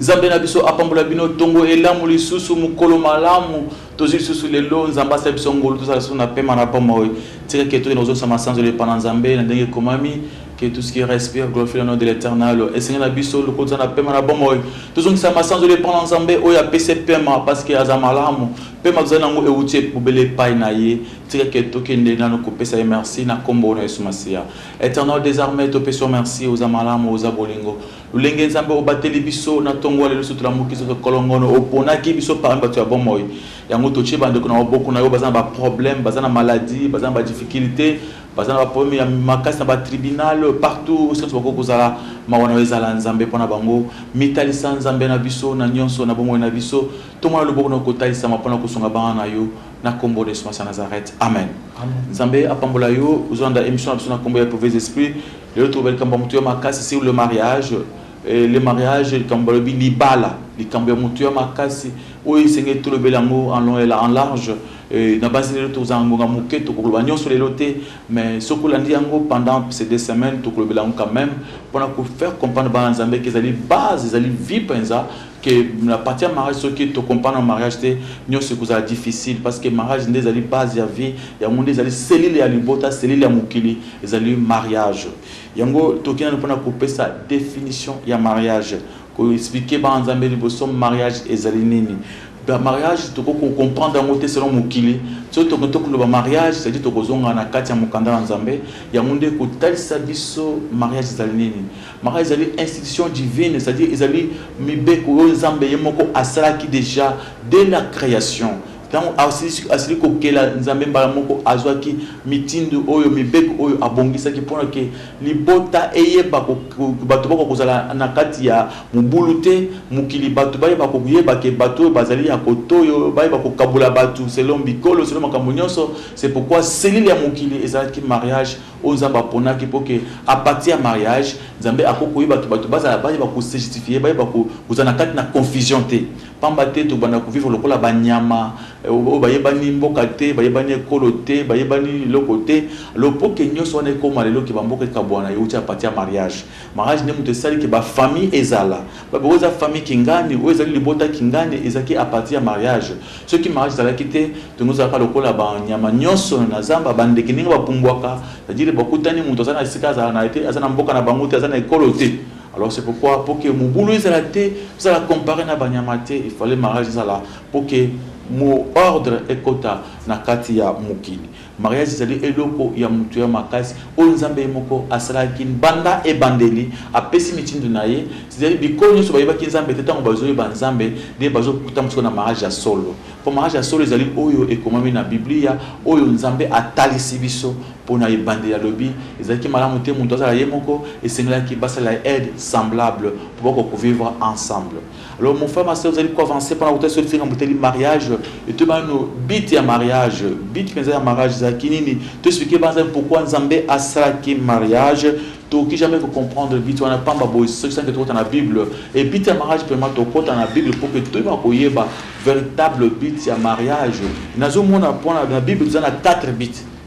Nzambe na biso apambola bino tongo elamu lisusu mokolo malamu tozwi lisusu lelo nzambe asala biso ngolu tozala lisusu na pema na bomoi tika ke tokende kozongisa masanzoli epa na nzambe na ndenge ekomami que tout ce qui respire glorifie le nom de l'éternel esengi na biso lokola toza na pema na bomoi tozongisa masanzoli epa na nzambe oyo apesi pema parce que aza malamu pema tozali na yango euti bobele epai na ye tika ke tokende nano kopesa ye merci na nkombo na yesu masiya Eternal des armes to peso merci oza malamu oza bolingo lulenge nzambe obateli biso na tongo alelo so tolamuki so kolongono oponaki biso parmi bato ya bomoi yango totie bandeko na maboko na yo baza na ba problème baza na maladie baza na ba difficulté baza na ba problème ya makasi na ba tribunal partout osenso bakoki kozala mawa na yo ezala nzambe mpo na bango mitalisa nzambe na biso na nyonso na bomoi na biso tomona loboko na yo kotalisama mpo na kosunga bana na yo na kombo na yesu masiya nazareth amen nzambe apambola yo ozolanda émission na biso na kombo ya mauvais esprit lelo toloba likambo ya motu ya makasi sur le mariage Eh, le mariage likambo balobi libala likambo ya motu ya makasi oyo esengeli tolobela yango en long et en large eh, na basi lelo tokozala ngonga moke tokoloba nyonso lelo te mais soki olandi yango pendant ces deux semaines tokolobela yango quand même mpona kofaire comprendre bana nzambe ke ezali base ezali vie mpenza que na partie ya mariage soki to comprendre mariage te nyonso ekozala difficile parce que mariage nde ezali base ya vie yango nde ezali cellule ya libota cellule ya mokili ezali mariage yango toki nanu mpona kopesa definition ya mariage koexplike bana nzambe liboso mariage ezali nini mariage tokoki kocomprendre yango te selon mokili soki tokoki tokoloba mariage cedi tokozonga na kati ya mokanda na nzambe yango nde kotalisa biso mariage ezali nini Marie ezali institution divine, c'est-à-dire ezali mibeko oyo Nzambe ye moko asalaki dejà dès la creation. Tango asilisi asili kokela, Nzambe mbala moko azwaki mitindo oyo, mibeko oyo abongisaki pona que libota eyeba ko batu bakoka kozala na kati ya mobulu te, mokili batu bayeba koyeba que batu oyo bazali ya cote oyo, bayeba kokabola batu selon bikolo, selon makambo nionso. C'est pourquoi cellule ya mokili ezalaki mariage. oyo Nzambe aponaki pour que à partir ya mariage Nzambe ako koyeba que bato bazala bayeba ko se justifier bayeba ko kozala na kati na confusion te pamba te tokobanda ko vivre lokola ba nyama oyo bayebani mboka te bayebani ekolo te bayebani eloko te alors pour que nionso wana ekoma lelo que ba mboka ekabuana ewuti à partir ya mariage Mariage nde moto esali ke ba famille ezala. Ba boko eza famille kingani, oyo ezali libota kingani ezalaki à partir ya mariage. Soki mariage ezalaki te, tongo ezalaka lokola ba nyama nionso na zamba, ba ndeke ndenge ba pumbuaka, c'est à dire bokutani moto aza na esika azala na ye te, aza na mboka na bango te, aza na ekolo te. Alors c'est pourquoi pour que mobulu ezala te, bozala comparer na ba nyama te, il fallait mariage ezala pour que mo ordre ekota na kati ya mokili. Mariage ezali eloko ya motuya makasi oyo Nzambe ye moko asalaki banda ebandeli. Apesi mitindo na ye. Cest-à-dire bikolo nionso bayebaki Nzambe te tango bazo yeba Nzambe nde bazo kutama sikoyo na mariage ya solo. Po mariage ya solo ezali oyo ekomami na Biblia oyo Nzambe atalisi biso po na ebandeli alobi ezalaki malamu te mutu azala ye moko esengelaki basalela aide semblable po bakoka ko vivre ensemble. Alors mon frère ma sœur ozali ko avancer pona kotali soki likambo etali mariage etoyi banano but ya mariage but penza ya mariage ezalaki nini to expliquer banza pourquoi nzambe asalaki mariage tokoki jamais ko comprendre but wana pamba boye soki sanke tokota na bible et but ya mariage pema tokota na bible po ke toyeba koyeba véritable but ya mariage nazomona pona na bible toza na 4 but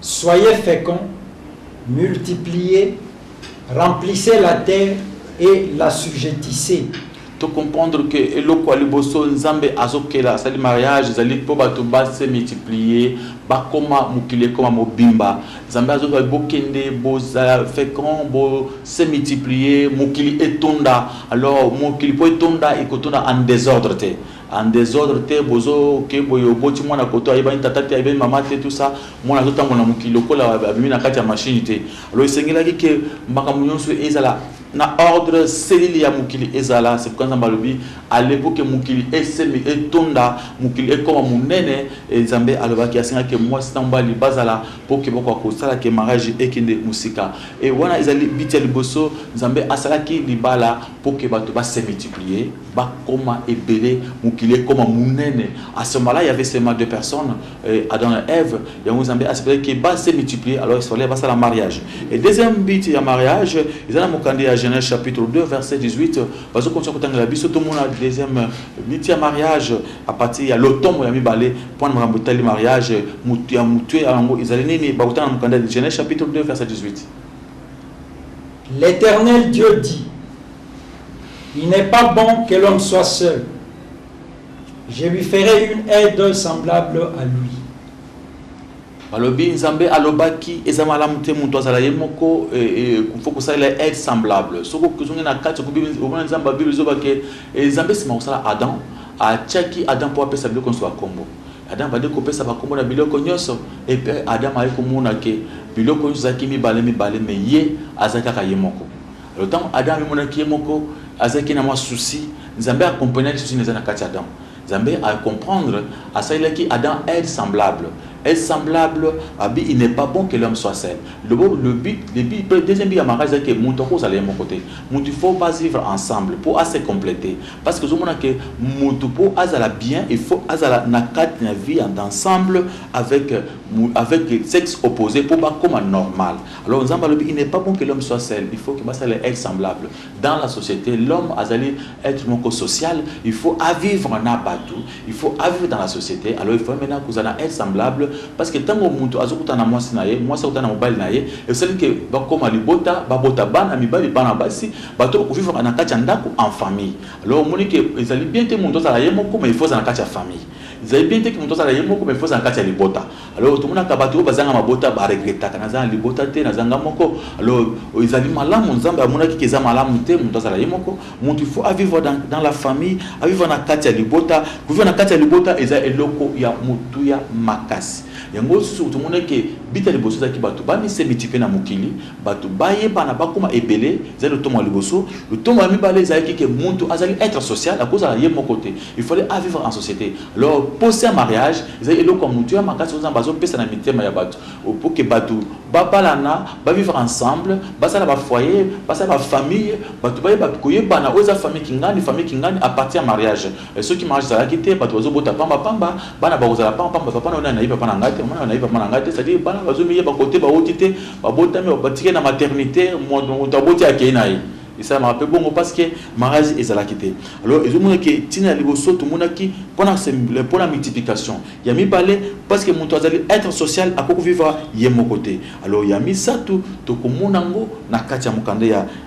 Soyez fecond, multipliez, remplissez la terre et l'assujettissez. To comprendre que eloko ya liboso Nzambe azokela asali mariage ezali mpo bato ba se multiplier, bakoma mokili ekoma mobimba. Nzambe azoloba bokende bozala fecond, bo se multiplier, mokili etonda. Alors mokili mpo etonda ekotonda en desordre te. en desordre te bozo ke boye oboti mwana koto ayebani tata te ayebani mama te tout ça mwana azo tambola na mokili lokola abimi na kati ya machine te alors esengelaki ke makambo nyonso ezala na ordre selile ya mokili ezala c'est pourquoi nzambe alobi alepo ke mokili esemi etonda mokili ekoma monene e nzambe alobaki asengaki ke mwasi na mobali bazala mpo ke bakoka kosala ke mariage ekende mosika e wana ezali biti ya liboso nzambe asalaki libala Pour que batu ba se multiplier, ba koma ebele, mokili ekoma munene. A ce moment-là, il y avait seulement deux personnes, euh, Adam et Ève. Yango Nzambe a sepelaki que ba se multiplier, alors il fallait basala mariage. Et deuxième but ya mariage, eza na mokanda ya Genèse chapitre 2 verset 18, bazo continuer kotangela biso tomona deuxième but ya mariage à partir ya lotomo ya mibale mpo na makambo etali mariage mutu ya mutue yango ezali nini bakotanga na mokanda ya Genèse chapitre 2 verset 18. L'Eternel Dieu dit, Il n'est pas bon que l'homme soit seul. Je lui ferai une aide semblable à lui. balobi nzambe alobaki eza malamu te moto azala ye moko eh, eh, fo kosalela aide semblable soki ozongi na kati omona nzambe babible ezobake eh, nzambe nsima kosala adam atyaki adam mpo apesa biloko nyonso ya nkombo Adam abandi kopesa bakombo na biloko nyonso, epe Adam ayaki komona ke biloko nyonso ezalaki mibale mibale, me ye azalaki kaka ye moko. Alo ntango Adam amimonaki ye moko, azalaki na mwa susi. Nzambe a comprenaki susi na eza na kati ya Adam. Nzambe a comprendre, asalelaki Adam aide semblable. Aide semblable, abi il n'est pas bon que l'homme soit seul. Lobo, le but, le but, pe deuxième but ya mariage ezalaki ke mutu akozala ye moko te. Mutu il faut ba vivre ensemble po a se completer. Parce que ozomona que mutu po azala bien il faut azala na kati na vie en ensemble avec avec sexe opposé po bakoma normal alors nzambe alobi il n'est pas bon que l'homme soit seul il faut que basala être semblable dans la société l'homme azali être moko social il faut avivre na bato Il faut a vivre dans la societe alors il faut maintenant kozala na aide semblable parce que tango mutu azokutana na mwasi na ye mwasi akutana na mobali na ye esali ke bakoma libota babota bana mibali bana basi bato kovivaka na kati ya ndako en famille alors omoni ke ezali bien te mutu azala ye moko mais il faut azala na kati ya famille ezali bien te ke mutu azala ye moko mais il faut azala na kati ya libota Alors tomonaka bato oyo bazanga mabota ba regretaka naza na libota te naza nga moko alors oh, ezali malamu nzambe amonaki ke eza malamu te moto azala ye moko moto il faut avivre dans, dans la famille avivre na kati ya libota kovivre na kati ya libota eza eloko ya motuya makasi yango lisusu tomonaki bita liboso ezalaki bato bamisemitipe na mokili Bato bayebana, bakoma ebele, ezali lotomo ya liboso. Lotomo ya mibale ezalaki que mutu azali etre social, akozala ye moko te, il fallait a vivre en societe. Alors posa ya mariage ezali eloko ya mutuya makasi oyo Nzambe azo pesa na mitema ya bato pour que bato babalana, ba vivre ensemble, basala ba foyers, basala ba familles, bato bayeba koyebana oyo eza famille kingani, famille kingani à partir ya mariage. Mais soki marche ezalaki te batu bazo bota pamba pamba bana bakozala pamba pamba papa nayo nani nayebi papa na ngai te maman nayo nayebi papa na ngai te c'est à dire bana bazo miyeba kote bawuti te babotami batikali na maternite mutu aboti akeyi na ye esalamaka pe bongo parce que marriage ezalaki te alors ezo mona ke tina ya liboso tomonaki pona pona multiplication ya mibale parce que mutu azali être social akoki vivre ye moko te alors ya misatu tokomona ngo na kati ya mokanda ya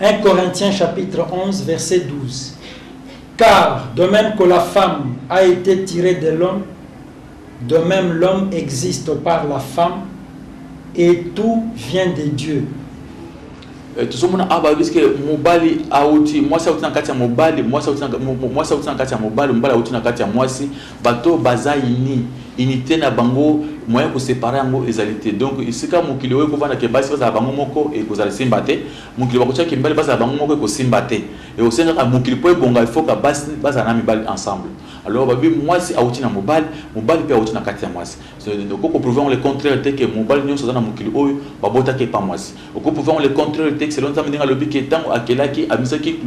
1 Corinthiens chapitre 11 verset 12. Car de même que la femme a été tirée de l'homme, de même l'homme existe par la femme et tout vient de Dieu. Eh, tozomona awa balobisi ke mobali auti mwasi auti na kati ya mobali mwasi auti na kati ya mobali mobali auti na kati ya mwasi Bato oyo baza unis, unite na bango moyen ya ko separer yango ezali te. Donc esika mokili oyo ekovanda que basi bazala bango moko ekozala esimba te, mokili bakotia que mibali bazala bango moko ekosimba te. Ekosenga kaka mokili mpo ebonga il faut que basi bazala na mibali ensemble. Alors balobi muasi awuti na mobali, mobali mpe awuti na kati ya muasi. Okoki ko prouver yango le contraire te que mobali nionso aza na mokili oyo babotaki epa muasi. Okoki ko prouver yango le contraire te que selon Nzambe ndenge alobi que tango akelaki abimisaki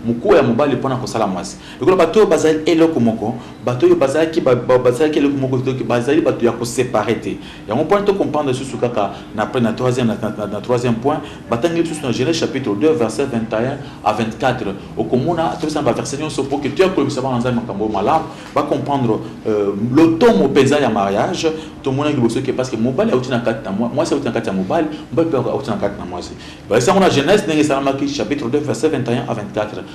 mokuwa ya mobali mpo na kosala muasi. Lokola bato oyo bazali eloko moko, bato oyo bazalaki, ba, ba, bazalaki eloko moko, donc bazali bato ya ko separer te. Yango mpo wana to comprendre lisusu kaka na après na troisième na, na, na troisième point, batangeli lisusu na Genèse chapitre 2 verset 21 à 24. Okomona topesa na ba verset nyonso mpo que toya kolobisa bana Nzambe makambo oyo malamu, ba comprendre euh, lotomo mpenza ya mariage. Tomonaki liboso ke parce que mobali auti na kati na mwasi, auti na kati ya mobali, mobali mpe auti na kati na mwasi. Balesa yango na Genèse ndenge esalamaki chapitre 2 verset 21 à 24.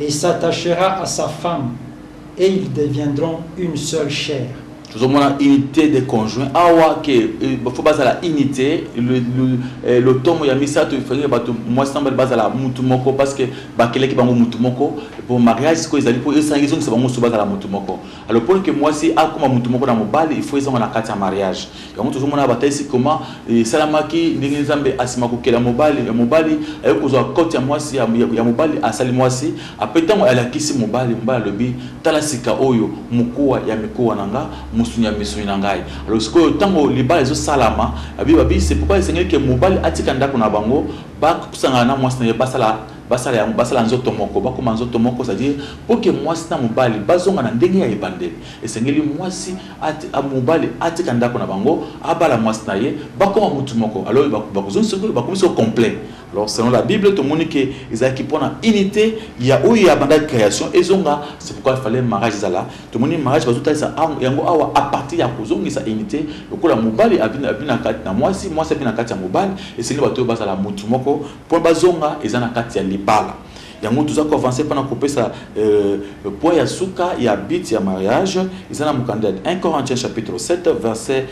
Il s'attachera à sa femme et ils deviendront une seule chair. tozomona unité de conjoint awa ke eh, faut bazala unité eh, lotomo ya misato ifenge bato mwasi na mobali bazala mutu moko parce que bakelaki bango mutu moko po mariage sikoyo ezali mpo esangi ezongisa bango mosusu bazala mutu moko alors mpo ke mwasi akoma mutu moko na mobali il faut ezonga na kati ya mariage Yango tozomona batalisi koma esalamaki ndenge nzambe asima kokela mobali ya mobali aye kozwa kote ya mwasi ya mobali asali mwasi ape ntango alakisi mobali mobali alobi tala sika oyo mokuwa ya mikuwa na nga mosuni ya misuni na ngai alo sikoyo ntango libala ezosalama abi babi se pourkoi esengeli ke mobali atika ndako na bango bakusangana na mwasi na ye basala basala yango basala nzoto moko bakoma nzoto moko c'est-à-dire mpo ke mwasi na mobali bazonga na ndenge ya ebandeli esengeli mwasi Atika mobali atika ndako na bango abala mwasi na ye bakoma mutu moko alors bakozongi soki bakomi so complet alors selon la bible tomoni ke ezalaki mpona unité ya oyo ya banda création ezonga c'est pourquoi il fallait mariage ezala tomoni mariage bazotalisa yango awa à partir ya kozongisa unité lokola mobali abi na kati na mwasi mwasi abi na kati ya mobali esengeli bato oyo bazala mutu moko mpo bazonga eza na kati ya libala Yango toza ko avancer pana kopesa euh, poids ya suka ya but ya mariage eza na mokanda ya 1 Corinthiens chapitre 7 verset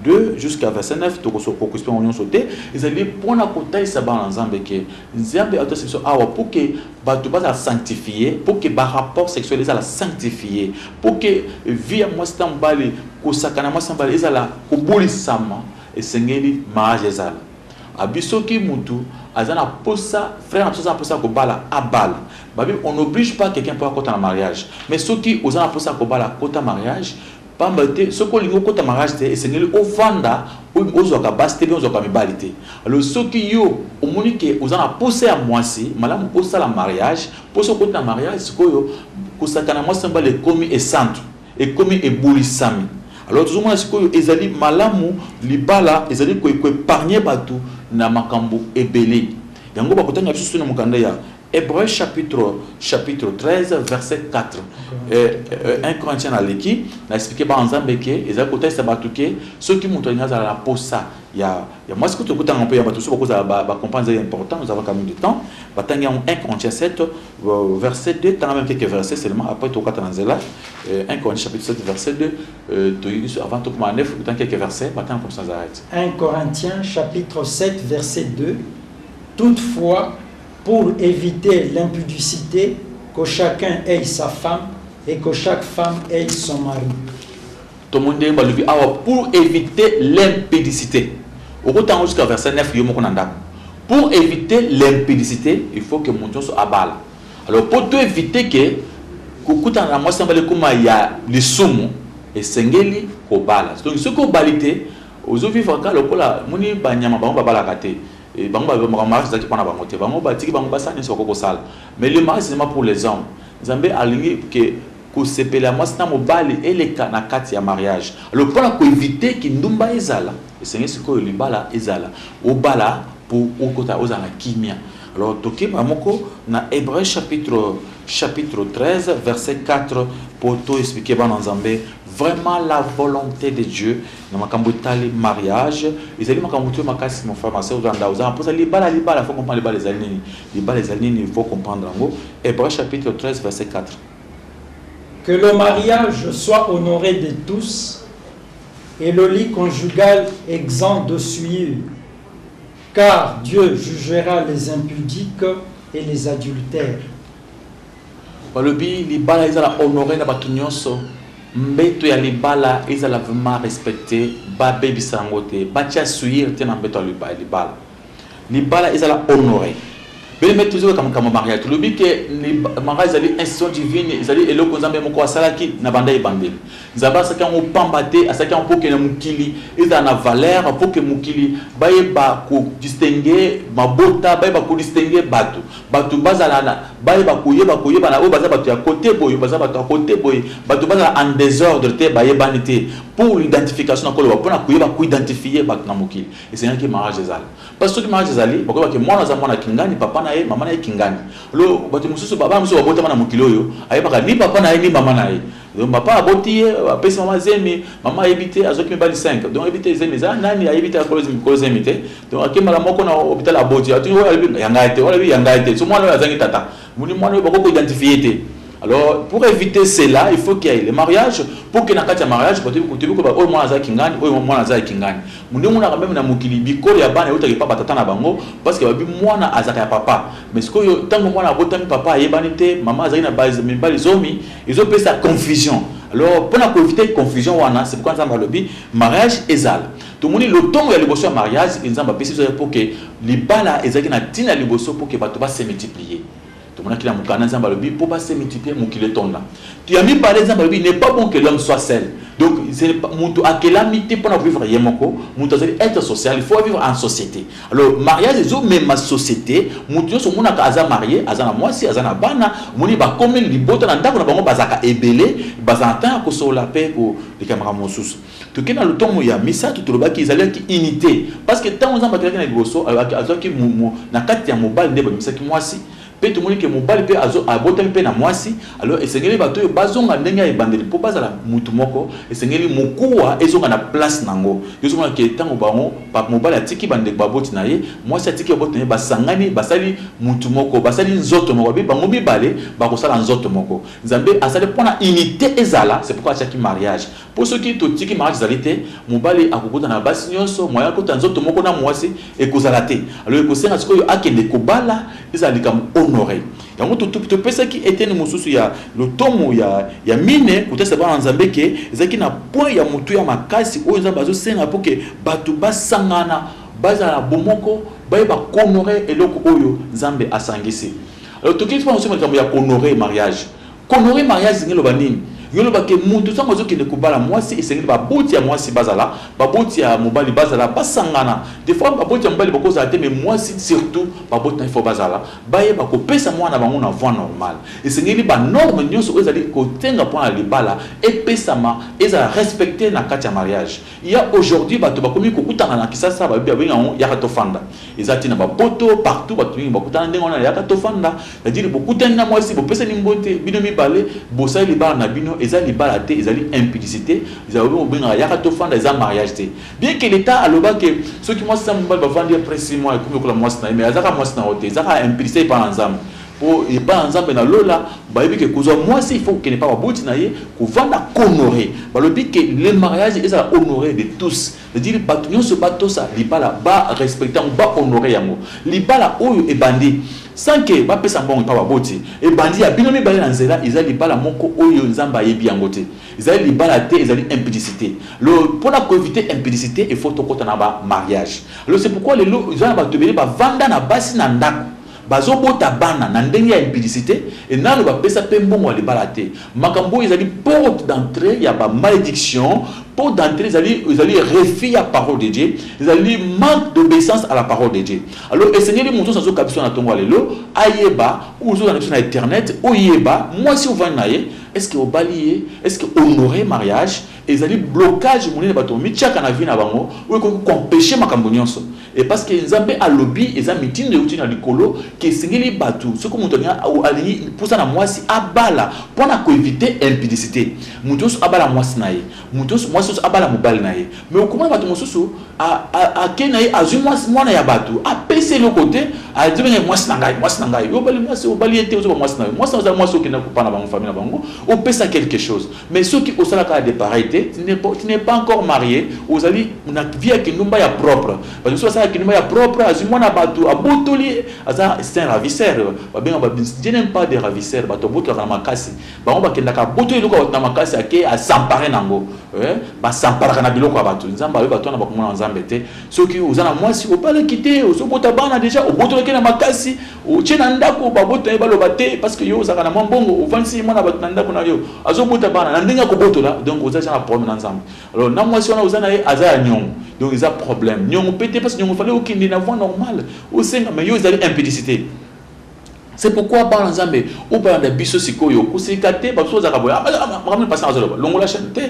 2 jusqu'à verset 9 tokoso kokusi mpe nyonso te ezali mpona kotalisa bana na nzambe ke nzambe atalisa biso awa mpo ke bato bazala sanctifie mpo ke barapport sexuel ezala sanctifie mpo ke vie ya mwasi na mobali kosakana mwasi na mobali ezala kobulisama esengeli mariage ezala Abi soki mutu aza na posa frère na biso aza na posa ya kobala abala babi on oblige pas quelqu'un po akota na mariage mais soki oza na posa ya kobala kota mariage pamba te soki olingi okota mariage te esengeli ovanda ozwaka basi te bien ozwaka mibali te alors soki yo omoni ke oza na posa ya muasi malamu osala mariage po soki okoti na mariage sikoyo kosakana muasi na mibali ekomi esantu ekomi ebulisami alors tozo mona sikoyo ezali malamu libala ezali ko epargne batu na makambo ebele yango bako tanga lisusu na mokanda ya Hebreu chapitre chapitre 13 verset 4 euh, euh, 1 Corinthiens na leki na explique ba nzambe ke ezali kotalisa batu ke soki moto alingi azala na posa ya ya mwasi kutu ekotanga mpe ya bato mosusu bakozala bacomprendre ezali important nous avons quand même du temps batangi yango 1 corinthiens 7 euh, verset 2 tanga même quelques versets seulement après tokata na nzela 1 euh, corinthiens chapitre 7 verset 2 euh, toyebi biso avant tokoma 9 otangi quelques versets batanga comme ça zarete 1 corinthiens chapitre 7 verset 2 toutefois pour éviter l'impudicité que chacun ait sa femme et que chaque femme ait son mari Tomoni ndenge balobi awa pour eviter l'impudicite. Okota yango jusqu'à verset 9 yo moko na ndako. Pour eviter l'impudicite, il faut que moto nyonso abala. Alors pour to eviter que kokutana na mwasi na bale ekoma ya lisumu, esengeli kobala. Donc soki obali te, ozo vivre kaka lokola moni banyama bango babalaka te. Et bango ba makambo mariage ezalaki mpo na bango te. Bango batiki bango basala nyonso bakoki kosala. Mais le mariage c'est seulement pour les hommes. Nzambe alingi que Kosepela ya mwasi na mobali eleka na kati ya mariage. Alors mpo na ko eviter kindumba ezala, esengeli sikoyo libala ezala obala mpo okota ozala na kimia. Alors tokeba moko na Hebreu chapitre chapitre 13 verset 4 mpo to expliquer bana Nzambe vraiment la volonté de Dieu na makambo etali mariage ezali makambo motuyo makasi mon frère ma sœur ozanda ozala mposa libala libala faut comprendre libala ezali nini libala ezali nini faut comprendre yango Hébreu chapitre 13 verset 4 Que le mariage soit honore de tous et le lit conjugal exempt de souillure, car Dieu jugera les impudiques et les adultères. balobi libala ezala honore na bato nyonso mbeto ya libala ezala vraiment respecte babebisa yango te batya suire te na mbeto ya libala Libala ezala honore. Bele mete tozoyoka makambo ya mariage tolobi ke mariage ezali institution divine, ezali eloko Nzambe moko asalaki na banda ebandeli. Nzambe asalaki yango pamba te, asalaki yango mpo ke na mokili ezala na valeur, mpo ke mokili bayeba ko distinguer mabota, bayeba ko distinguer batu, batu bazala na bayeba koyeba koyebana oyo baza batu ya cote boye, oyo baza batu ya cote boye, batu bazala en desordre te, bayebani te pour l'identification nakoloba mpo na koyeba ko identifier batu na mokili. Esengaki marriage ezala parce soki marriage ezali bakoyeba ke mwana aza mwana kingani papa na ye mama na ye kingani lo batu mususu bana mususu babotama na mokili oyo ayebaka ni papa na ye ni mama na ye donc papa aboti ye apesi mama zemi mama ayebi te azoki mibali 5 donc ayebi te zemi eza nani ayebi te akolo zemi te donc akembala moko na hopital aboti ati oyo alobi ya ngai te oyo alobi ya ngai te so mwana oyo azangi tata Omoni mwana oyo bakoki ko identifie ye te alors pour eviter cela il faut qu'il y ait le mariage pour que na kati ya mariage bato yebi toyebi koyeba oyo mwana aza kingani oyo mwana aza ya kingani munde monaka meme na mokili bikolo ya bana eutaka epa batata na bango parce que babi mwana azaka ya papa mais sikoyo ntango mwana abotami papa ayebani te mama azali na base mibali zomi ezopesa confusion alors mpo na koeviter confusion wana c'est pourquoi nzambe alobi mariage ezala Tomoni lotomo ya liboso ya mariage Nzambe apesi biso ezali mpo que libala ezalaki na ntina ya liboso mpo que bato ba se multiplier. Tomonaki na mokanda Nzambe alobi mpo ba se multiplier mokili etonda. Ya mibale Nzambe alobi il n'est pas bon que l'homme soit seul. Donc moto akelami te mpo na ko vivre ye moko, moto azali etre social, il faut a vivre en societe. Alors mariage ezo mema societe, moto nyonso omonaka aza marie, aza na mwasi, aza na bana, omoni ba komi libota na ndako na bango bazalaka ebele, bazala na temps ya ko solola mpe ko leka makambo mosusu. Toke na lotomo ya misato, tolobaki ezaliaki unite, parce que tango Nzambe akelaki na liboso, alobaki azuaki mo, mo, na kati ya mobali nde babimisaki mwasi, mpe tomoni ke mobali mpe azo, abotami mpe na mwasi, alors esengeli bato oyo bazonga ndenge ya ebandeli mpo bazala mutu moko, esengeli mokuwa ezonga na place na yango. Yo ozomona ke tango bango, pa, mobali atiki bandeko baboti na ye, mwasi atiki baboti na ye, basangani, basali mutu moko, basali nzoto moko, babi, bango mibale bakosala nzoto moko. Nzambe asali mpo na unite ezala, c'est pourquoi atiaki mariage. Po soki totiki marriage ezali te, mobali akokota na basi nionso, moyen akota nzoto moko na muasi ekozala te. Alors ekosenga sikoyo akende kobala, ezala likambo honore. Yango topesaki eteni mosusu ya lotomo ya ya mine kotalisa bana na Nzambe ke ezalaki na point ya motuya makasi oyo Nzambe azosenga po ke batu basangana, bazala na bomoko, bayeba ko honorer eloko oyo Nzambe asangisi. Alors tokei lisusu na likambo ya ko honorer marriage. Konore mariage elingi eloba nini? Yo loba ke mutu tango azo kende kobala muasi esengeli ba boti ya muasi bazala, ba boti ya mobali bazala, basangana. De fois ba boti ya mobali bako zala te mais muasi surtout ba boti naye faut bazala, bayeba ko pesa muana na bango na voie normale. Esengeli ba normes nionso oyo ezali ko senga pona libala epesama, ezala respecter na kati ya mariage. Ya aujourd'hui batu bakomi kokutana na kisasa babi babengi yango yaka tofanda eza tina ba poto partout batu mingi bakutana ndenge wana yaka tofanda c'est à dire bokutani na mwasi bopesani mbote bino mibale bosali libala na bino eza libala te ezali impudicite ezali babi bobengaka yaka tofanda eza mariage te bien que l'etat aloba que soki mwasi na mobali bavandi après six mois ekomi lokola mwasi na ye mais azaka mwasi na yo te ezaka impudicite epa na nzambe Po epai ya Nzambe na lola, bayebi ke kozwa mwasi il faut kokende epai ya baboti na ye, kovanda, kohonorer. Balobi ke le mariage ezala honore de tous, c'est dire bato nyonso batosa libala, ba respecter yango, ba honorer yango. Libala oyo ebandi sans ke bapesa mbongo epai ya baboti, ebandi ya bino mibale na nzela, ezali libala moko oyo Nzambe ayebi yango te. Ezali libala te, ezali impudicite. Alors, pona ko eviter impudicite, il faut tokota na ba mariages. Alors, c'est pourquoi lelo eza na bato ebele bavanda na basi na ndako, Bazo bota bana na ndenge ya impudicite et nanu ba pesa pe mbongo ya libala te. Makambo oyo ezali porte d'entree ya ba maledictions, porte d'entree ezali ezali refus ya parole de Dieu, ezali manque d'obeissance à la parole de Dieu. Alors esengeli moto nionso azo ka biso na tongo ya lelo ayeba ou ozo landa biso na eternete oyeba muasi ovandi na ye est ce que obali ye? Est ce que honore mariage? Ezali blocage monene bato ba mitiaka na vie na bango oyo ekoki ko empecher makambo nionso et parce que Nzambe alobi eza mitindo ewuti na likolo que esengeli bato soki moto alingi alingi posa na muasi abala mpo na ko eviter impudicite moto nionso abala muasi na ye moto nionso muasi nionso abala mobali na ye mais okomona bato mosusu a a ake na ye azui muasi muana ya bato apesi eloko te azobenge muasi na ngai muasi na ngai yo obali muasi obali ye te ozoba muasi na yo muasi na yo eza muasi okendaki kopana bango famille na bango opesa quelque chose Mais soki osala kaka de pareil te, tu n'es pas, tu n'es pas encore marie, ozali na vie ya kindumba ya propre. Batu mosusu basala kindumba ya propre, azwi mwana ya batu, abotoli ye, aza c'est un ravisseur. Babenga ba, je n'aime pas des ravisseurs, batu babotolaka na makasi. Bango bakendaka abotoli eloko ya batu na makasi, ake a s'emparer na yango. Eh, ba s'emparaka na biloko ya batu. Nzambe ayoki batu wana bakomona na Nzambe te. Soki oza na mwasi, obalaki te, ozobota bana dejà, obotolaki ye na makasi, Otie na ndaku babota ye baloba te parce que yo ozalaka na mwa mbongo ovandisi ye mwana batu na ndaku na yo azo bota bana na ndenge ako botola donc oza dejà na problème na nzambe alors na mwasi wana oza na ye aza ya niongo donc eza problème niongo pe te parce que niongo fallait okende na voie normale osenga mais yo ezali impudicité c'est pourquoi bana nzambe obalanda biso sikoyo kosika te bato ozalaka boye makambo na pasi azoloba longola chaîne te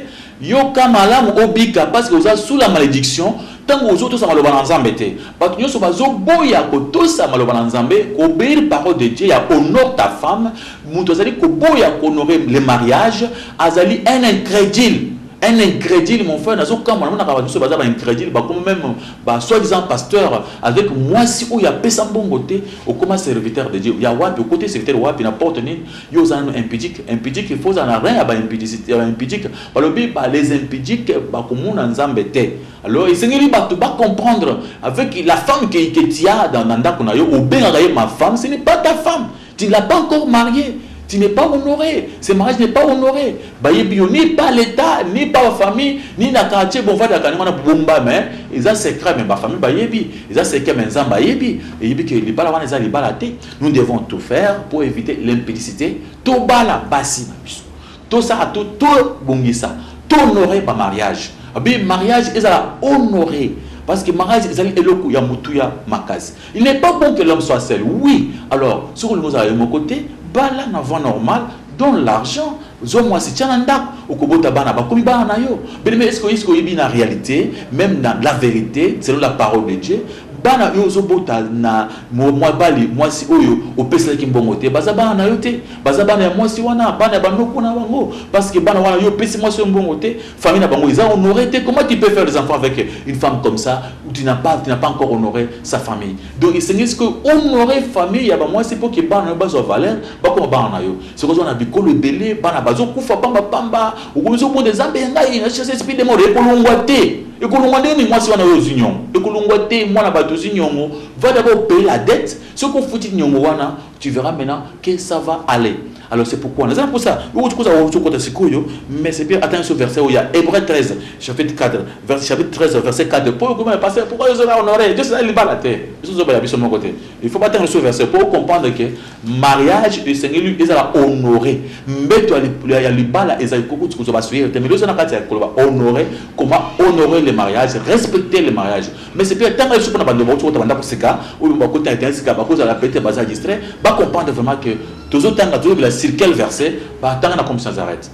Yoka malamu obika parce que oza sous la malediction tango ozo tosa maloba na nzambe te batu nionso bazo boya ko tosa maloba na nzambe ko obeir parole de Dieu ya honore ta femme mutu azali ko boya ko honore le mariage azali un incredule un incredule mon frère nazo kamua na monaka batu nionso baza ba incredule ba komi meme ba soit disant pasteur avec muasi oyo apesa mbongo te okoma serviteur de Dieu ya wapi okoti serviteur wapi na porte nini Yo oza nanu impudique, impudique il faut ozala na rein ya ba impudicite ya ba impudique, balobi ba les impudiques bakomona Nzambe te, alors esengeli batu ba comprendre avec la femme que que tu as dans na ndaku na yo obengaka ye ma femme ce n'est pas ta femme, tu ne l'as pas encore mariee, tu n'es pas honore, ce mariage n'est pas honore, bayebi yo ni par l'etat, ni par ba famille, ni na quartier bovadaka ndenge wana bobomba mais eza secret mais ba famille bayebi, eza secret mais Nzambe ayebi, eyebi que libala wana eza libala te. Nous devons tout faire pour eviter l'impudicite, tobala basi na biso, tosala to tobongisa, tohonore ba mariage abi mariage ezala honore parce que mariage ezali eloko ya motuya makasi. Il n'est pas bon que l'homme soit seul. Oui, alors soki olingi ozala yo moko te, bala na voie normale, donne l'argent, zwa mwasi tia na ndako, okobota bana bakomi bana na yo. Bien-aimé, est-ce que oyebi na realite, même na la verite, selon la parole de Dieu, Bana yo ozo bota na muabali muasi oyo opeselaki mbongo te baza bana na yo te baza bana ya muasi wana bana ya ba noko na bango parce que bana wana yo opesi muasi oyo mbongo te famille na bango eza honore te comment tu peux faire des enfants avec une femme comme ça ou tu n'as pas tu n'as pas encore honore sa famille donc esengeli sikoyo honore famille ya ba muasi pour que bana na yo bazwa valeur bakoma bana na yo Soko zwa na bikolo ebele bana bazo kufa pamba pamba, okomi zo bonde zambe ya ngai na chasse esprit de mort ekolongwa te. Ekolongwa ndenge nini mwasi wana oyo ozwi nyongo? Ekolongwa te mwana batu ozwi nyongo, va d'abord payer la dette, soki ofuti nyongo wana tu verras maintenant que ça va aller. Alors c'est pourquoi naza na posa yo oti koza ozo kota sikoyo mais c'est bien atanga ce verset oyo ya Hébreux 13 chapitre 4 verset chapitre 13 verset 4 po okoma pasteur pourquoi yo zo na honorer Dieu c'est libala te. Biso zo ba ya biso moko te. Il faut batanga ce verset pour comprendre que mariage esengeli ezala honore mbeto ya libala ezali kokuti kozwa basuye te mais ezana kati ya koloba honore comment honorer le mariage respecter le mariage mais c'est bien tanga lisuku na bando bauti kota banda koseka oyo bakoti na internet sika bakozala pete baza distrait ba comprendre vraiment que tozotanga tozobela sur quel verset batanga na comme sans arrête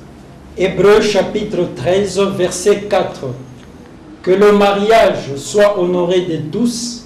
Hébreu chapitre 13 verset 4 que le mariage soit honoré de tous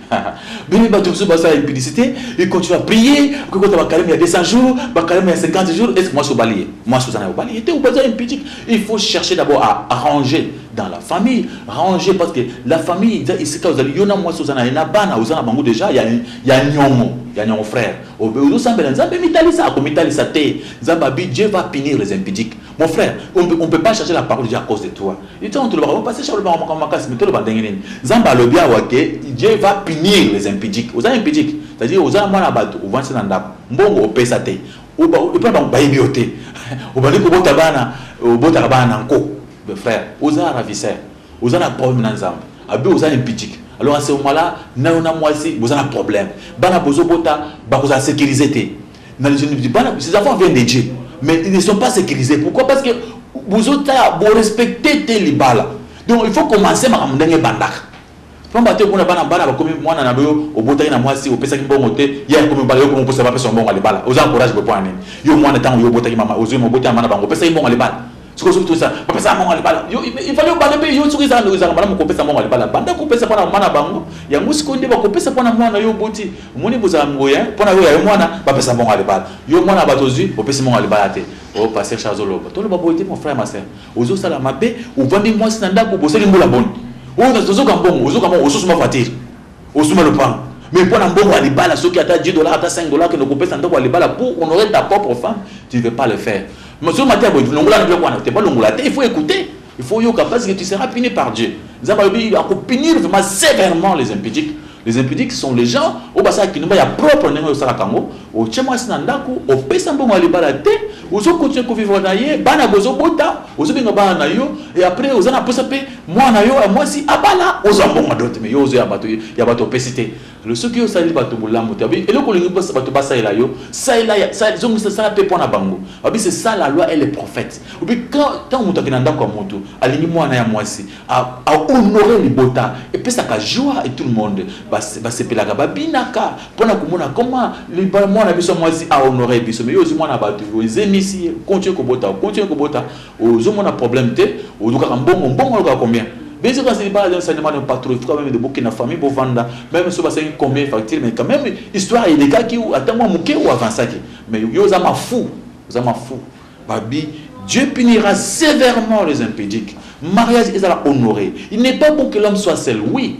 Bino batu mosusu basala impudicité, il continue à prier, okoki kota ba carême ya 200 jours, ba carême ya 50 jours, est-ce que mwasi obali ye? Mwasi oza na yo obali ye te, oza impudique. Il faut chercher d'abord à ranger dans la famille, ranger parce que la famille eza esika ozali yo na mwasi oza na ye na bana oza na bango déjà ya ya nyongo, ya nyongo frère. Ozo sambela Nzambe mitalisa, ako mitalisa te. Nzambe abi Dieu va punir les impudiques. Mon frère, on ne peut pas chercher la parole de Dieu à cause de toi. Yo tango tolobaka oh pasteur alobaka makambo makasi mais toloba ndenge nini? Nzambe alobi awa ke Dieu va punir les impudiques. Oza impudique c'est à dire oza mwana ya batu ovandisi ye na ndaku mbongo opesa te epai na bango bayebi yo te obandi kobota bana obotaka bana na nko mais frère oza ravisseur oza na problème na Nzambe abi oza impudique alors à ce moment là nayo na mwasi boza na problème bana bozobota bakozala securise te na bana ces enfants viennent de Dieu mais ils ne sont pas sécurisés pourquoi parce que bozotala borespecte te libala donc il faut commencer makambo ndenge ebandaka pamba te okona bana bana bakomi mwana na boyo obotaki na mwasi opesaki mbongo te ye akomi bala yokomi okosa bapesa mbongo ya libala oza encourage bopo ya nini yo mwana ntango yo obotaki mama ozwi moboti ya mama na bango opesaki mbongo ya libala sikoyo soki toza bapesa mbongo ya libala ifali obala mpe yo soki ezala ndeko ezalaka malamu kopesa mbongo ya libala banda kopesa mpo na mama na bango yango sikoyo nde bakopesa mpo na mwana yo oboti omoni bozala ngoya mpo na yo ya yo mwana bapesa mbongo ya libala yo mwana bato ozwi opesi mbongo ya libala te o oh, paster charge oloba toloba boye te mon frère ma sœur ozosala mabe ovandi mwasi na ndako bosali mbula boni oyo oh, tozoka mbongo ozoka mbongo osusu mavatire Osumba lopango mais pona mbongo ya libala soki ata 10 dollars ata 5 dollars kende kopesa ndako ya libala pour honorer ta propre femme tu veux pas le faire mais soki matia boye longola na biloko wana te balongola te il faut écouter il faut yoka parce que tu seras puni par Dieu nzambe alobi akopunir vraiment sévèrement les impudiques les impudiques sont les gens oyo basala kinumba ya propre ndenge oyo osalaka yango otye mwasi na ndako opesa mbongo ya libala te ozokontinue kovivre na ye bana bozobota ozobenga bana na yo e après oza na mposa mpe Muana yo ya mwasi abala ozwa mbongo dote mais yo ozo ya bato ya bato opesi te le soki yo osaleli bato bolamu te babi eloko olingi bato basalela yo salela ya sa zongisa sala pe pona bango babi c'est ça la loi et les prophètes obi quand tant moto akina ndako ya moto alingi muana ya mwasi a, a honorer libota epesaka joie et tout le monde basepelaka ba babinaka pona komona comment muana biso mwasi a honorer biso mais yo ozi muana bato yo ezemisi continue kobota continue kobota Ozo mona problème te olukaka mbongo mbongo alukaka combien bese kasi libala lya nsani mwana patro ifuka meme de bokenda famille bovanda meme so basengi combien facture mais quand même histoire elekaki ata mwa moke ou avansaki mais yo oza mafu oza mafu babi Dieu punira sévèrement les impudiques. Mariage est à honorer. Il n'est pas bon que l'homme soit seul. Oui,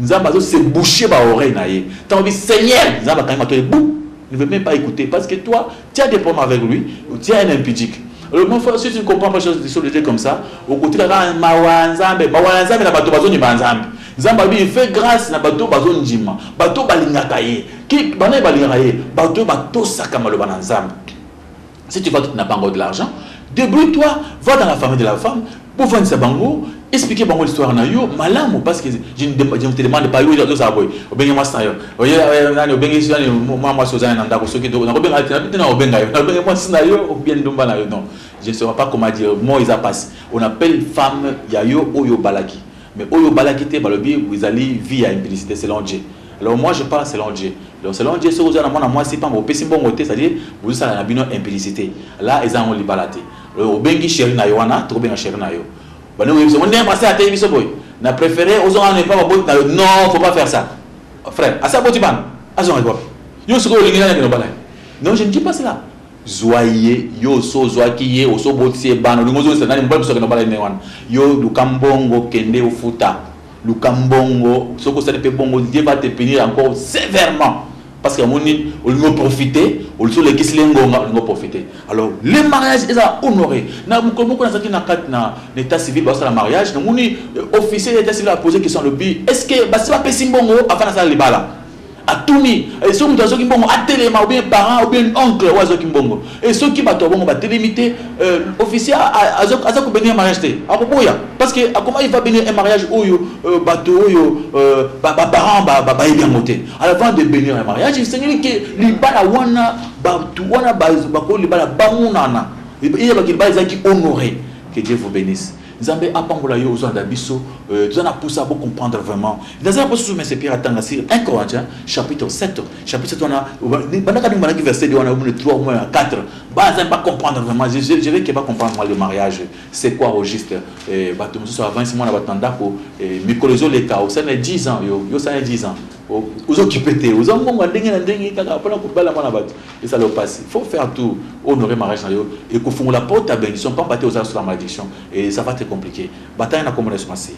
Nzambe azo se boucher ba oreilles na ye tango olobi seigneur nzambe akangi matoi boum ne veut meme pas ecouter parce que toi tu as des problèmes avec lui tu as un impudique alors mon frère si tu ne comprends pas chose sur le Dieu comme ça okotika kaka mawa nzambe mawa na nzambe na bato bazondima nzambe nzambe alobi il fait grâce na bato bazondima bato balingaka ye ki bana balingaka ye bato batosaka maloba na nzambe Si tu vas tout na bango de l'argent, débrouille toi, va dans la famille de la femme, pour voir sa bango, expliquer bango l'histoire na yo, malamu, parce que je ne, je ne te demande pas, yo, yo, ça boy, obengi moi ça yo, oye, oye, nani, obengi ça, moi, moi, sozana, nanda, kosoki, do, na kobenga, na kobenga, na obenga yo, na obengi moi ça yo, ou bien ndumba na yo, non, je ne saurais pas comment dire, moi, ils a passé, on appelle femme, ya yo, oyo, balaki, mais oyo, balaki, te, balobi, vous allez, vie, ya implicité, selon Dieu. Alors moi je parle selon Dieu. Donc selon Dieu soki oza na mwana mwasi pamba opesi mbongo te, c'est-à-dire bozosala na bino impudicité. Là eza yango libala te. Alors obengi chérie na yo wana, tokobenga chérie na yo. Bande oyebi biso, nde mwasi ateyi biso boye. Na préféré ozonga na epa baboti na yo. Non, faut pas faire ça. Frère, asa boti bana. Azonga kwa. Yo sikoyo olingi nani akende obala ye? Non, je ne dis pas cela. zwa ye yo oso ozwaki ye oso obotisi ye bana olingi ozongisa nani mobali biso akende obala ye ndenge wana yo luka mbongo kende ofuta Luka mbongo soki osali pe bongo Dieu va te punir encore severement parce que amoni olingi oprofite olisi olekisi le ngonga olingi oprofite alors le mariage eza honore na mokolo moko nazalaki na kati na na état civil basala mariage namoni euh, officier ya état civil apose question alobi est ce que basi bapesi mbongo avant nasala libala Atuni eh, soki moto azwaki mbongo atelema, obien parent obien oncle oyo azwaki mbongo e eh, soki bato ya bongo batelemi te, eh, officier aza kobenir mariage te, akoboya parce que akoma il va benir un mariage oyo bato oyo baparent bayebi yango te. Alors avant de benir un mariage, esengeli ke libala wana bato wana bakoyo libala bamonana, eyebaki libala ezalaki honore. Que Dieu vous bénisse. Nzambe apambola yo ozolanda biso euh, toza na posa bo comprendre vraiment naza na posa susu mese pierre atanga sur 1 corinthiens chapitre 7 chapitre 7 wana bandaka ndenge bandaki verset 2 wana obune 3 mois ya 4 baza ba comprendre vraiment je, je, je vais que ba comprendre moi le mariage c'est quoi au juste euh, bato mosusu avance mwana bato na ndako euh, mikolo ezoleka osali na 10 ans yo yo osali na 10 ans Ozo kipe te oza mbongo ya ndenge na ndenge kaka pona kobala mwana bato esala yo pasi faut faire tout honore mariage na yo ekofungola porte ya bendition pamba te oza sous malediction et ça va te compliquer bataya na kombo na Yesu Masiya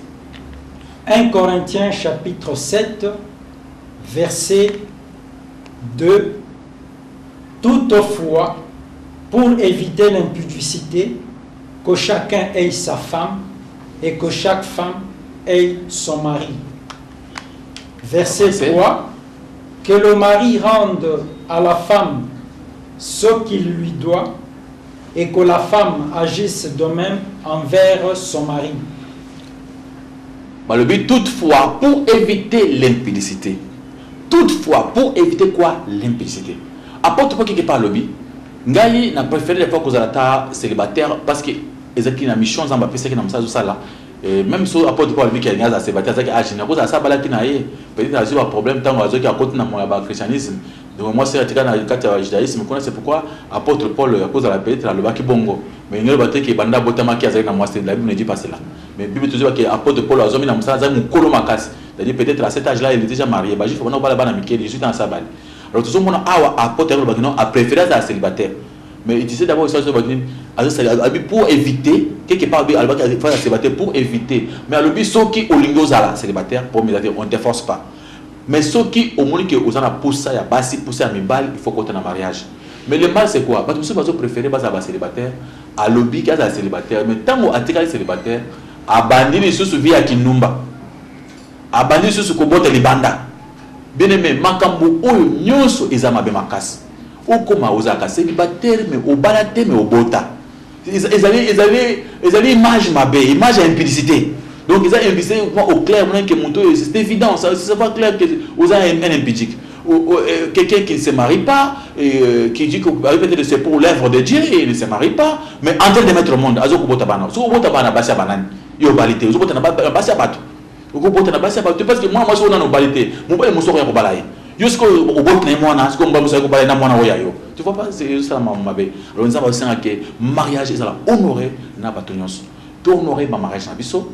1 Corinthiens chapitre 7 verset 2 Toutefois, pour éviter l'impudicité, que chacun ait sa femme et que chaque femme ait son mari. Verset 3 Que le mari rende à la femme ce qu'il lui doit et que la femme agisse de même envers son mari. Balobi toutefois pour éviter l'impudicité. Toutefois pour éviter quoi L'impudicité. Apôtre Paul qui pas lobby. Ngai na préféré les fois que vous êtes célibataire parce que ezaki na mission nzambe apesaki na mosala ezosala Et meme so apôtre Paul biki alingi azala célibataire azalaki age nini akozala asa abalaki na ye peut-être azwi ba problème ntango azoki akoti na moya ba christianisme donc mwasi atika na kati ya judaïsme kuna c'est pourquoi apôtre Paul akozala peut-être alobaki bongo mais elingi aloba te ke banda abotamaki azalaki na mwasi la Bible ne dit pas cela mais Bible tozoba ke apôtre Paul azomi na mosala azali mokolo makasi c'est-à-dire peut-être à cet âge là il est déjà marié ba juif bana kobala bana mike 18 ans asa abali alors tozomona awa apôtre alobaki non a préféré azala célibataire Mais il disait d'abord que ça soit dit, abi pour éviter, quelque part abi alba qui faire célibataire pour éviter. Mais alobi soki olingo zala célibataire pour me on te force pas. Mais soki omoni que ozana poussa ya basi, poussa ya mibali, il faut compter na mariage. Mais le mal c'est quoi? Parce que soki préféré basa ba célibataire, alobi ki azala célibataire, mais tango atikali célibataire, abandi lisusu vie ya kinumba. Abandi lisusu kobota libanda. Bien aimé, makambo oyo nyonso eza mabe makasi. Okoma ozalaka celibatere mais obala te mais obota ezali ezali ezali image mabe image ya impudicite donc eza impudicite moi au clair monaki ke moto oyo c'est évident ça ça va clair que oza un impudique euh, quelqu'un qui ne se marie pas et, euh, qui dit que peut-être c'est pour l'œuvre de Dieu et il ne se marie pas mais en train de mettre au monde azo kobota bana soko bota bana basi ya banani yo obali te ozo bota na basi ya bato Okobota na basi ya bato te parce que mwana mwasi oyo nanu obali te, mobali mosusu akoya kobala ye. Yo sikoyo oboti na ye mwana, sikoyo mobali mosusu aye kobala ye na mwana oyo ya yo. Tu vois pas ezo sala makambo mabe. Alors Nzambe azo senga que mariage ezala honore na bato nyonso. To honore ba mariage na biso.